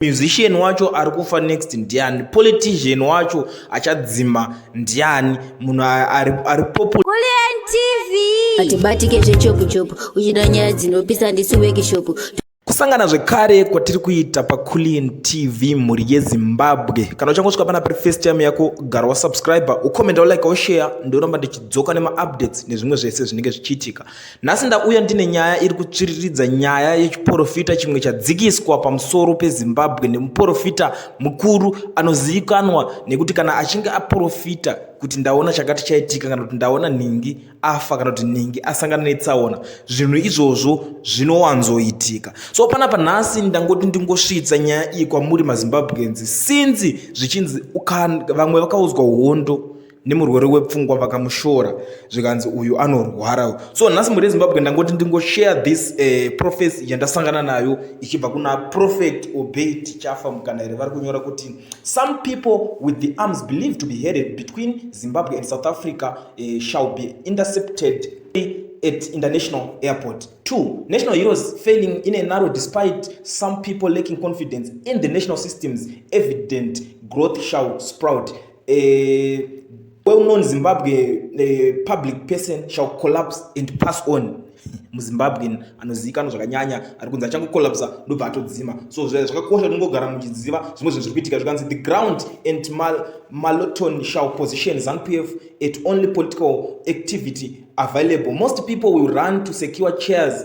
musician wacho ari kufa next ndiani politician wacho achadzima ndiani munhu ari popu hatibatike zvechopuchopu uchida nyaya dzinopisa handisi wekishopu kusangana zvekare kwatiri kuita paculin tv mhuri yezimbabwe kana uchangosvika pana pari first time yako gara wasubscribe ucomenta ulike ushare ndioramba ndichidzoka nemaupdates nezvimwe zvese zvinenge zvichiitika Nhasi ndauya ndine nyaya iri kutsviriridza nyaya yechiporofita chimwe chadzikiswa pamusoro peZimbabwe nemuporofita mukuru anozivikanwa nekuti kana achinge aporofita kuti ndaona chakati chaitika kana kuti ndaona nhingi afa kana kuti nhingi asangana netsaona zvinhu izvozvo zvinowanzoitika so panapa nhasi ndangoti ndingosvitsa nyaya iyi kwamuri mazimbabwenzi sinzi zvichinzi vamwe vakaudzwa hondo nemurwere wepfungwa vakamushora zvikanzi uyu anorwara so nhasi mhuri yezimbabwe ndangoti ndingoshare this uh, eh, prophecy yandasangana nayo ichibva kuna prophet obey tichafa mukana here vari kunyora kuti some people with the arms believed to be headed between zimbabwe and south africa uh, shall be intercepted at international airport two national heroes failing in a narrow despite some people lacking confidence in the national systems evident growth shall sprout eh, well known zimbabwe eh, public person shall collapse and pass on muzimbabwen anozivikanwa zvakanyanya ari kunzi achangocollapsa ndobva atodzima so zvakakosha tinongogara muchiziva zvimwe zvinhu zviri kuitika zvikanzi the ground and mal maloton shall position zanupf at only political activity available most people will run to secure chairs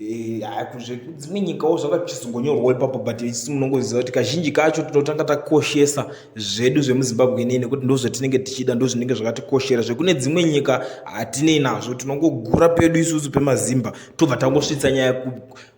Eh, dzimwe nyikawo zvakachizongonyorwawo ipapo but isu munongoziva kuti kazhinji kacho tinotanga takoshesa zvedu zvemuzimbabwe nei nekuti ndozvatinenge tichida ndozvinenge zvakatikoshera zvekune dzimwe nyika hatinei nazvo tinongogura pedu isusu pemazimba tobva tangosvitsa nyaya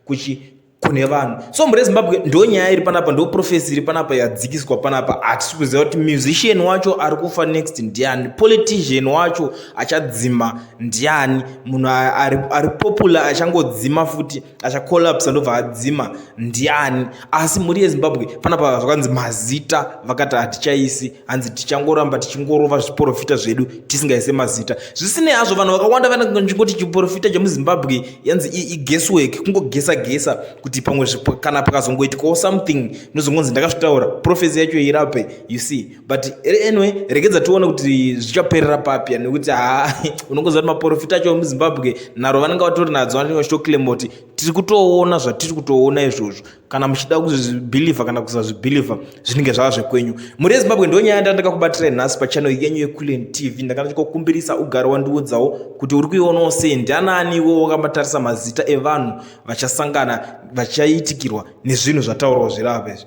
kuchi kune vanhu so mhuri yezimbabwe ndo nyaya iri panapa ndo profesi iri panapa yadzikiswa panapa hatisi kuziva kuti musician wacho ari kufa next ndiani politician wacho achadzima ndiani munhu ari, ari popular achangodzima futi achacollapsa ndobva adzima ndiani asi mhuri yezimbabwe panapa zvakanzi mazita vakati hatichaisi hanzi tichangoramba tichingorova zviporofita zvedu tisingaise mazita zvisinei hazvo vanhu vakawanda vanangoti chiporofita chemuzimbabwe yanzi igeswork kungogesa gesa kuti pamwe kana pakazongoitikawo something nozongonzi ndakazvitaura profesi yacho irape you see but eh, anyway regedza tione kuti zvichaperera papya nekuti ha unongoziva kuti maporofita acho emuzimbabwe nharo vanenge vatori nadzo vanenge vachitoclaima kuti tiri kutoona zvatiri kutoona izvozvo kana muchida kuzvibhilivha kana kusazvibhilivha zvinenge zvava zvekwenyu mhuri yezimbabwe ndo nyaya yanda ndakakubatirai nhasi pachanel yenyu yequlen tv ndakana chikokumbirisa ugare wandiudzawo kuti uri kuionawo sei ndianaani iwo wakamatarisa mazita evanhu vachasangana vachaitikirwa nezvinhu zvataurwa zvirava izvi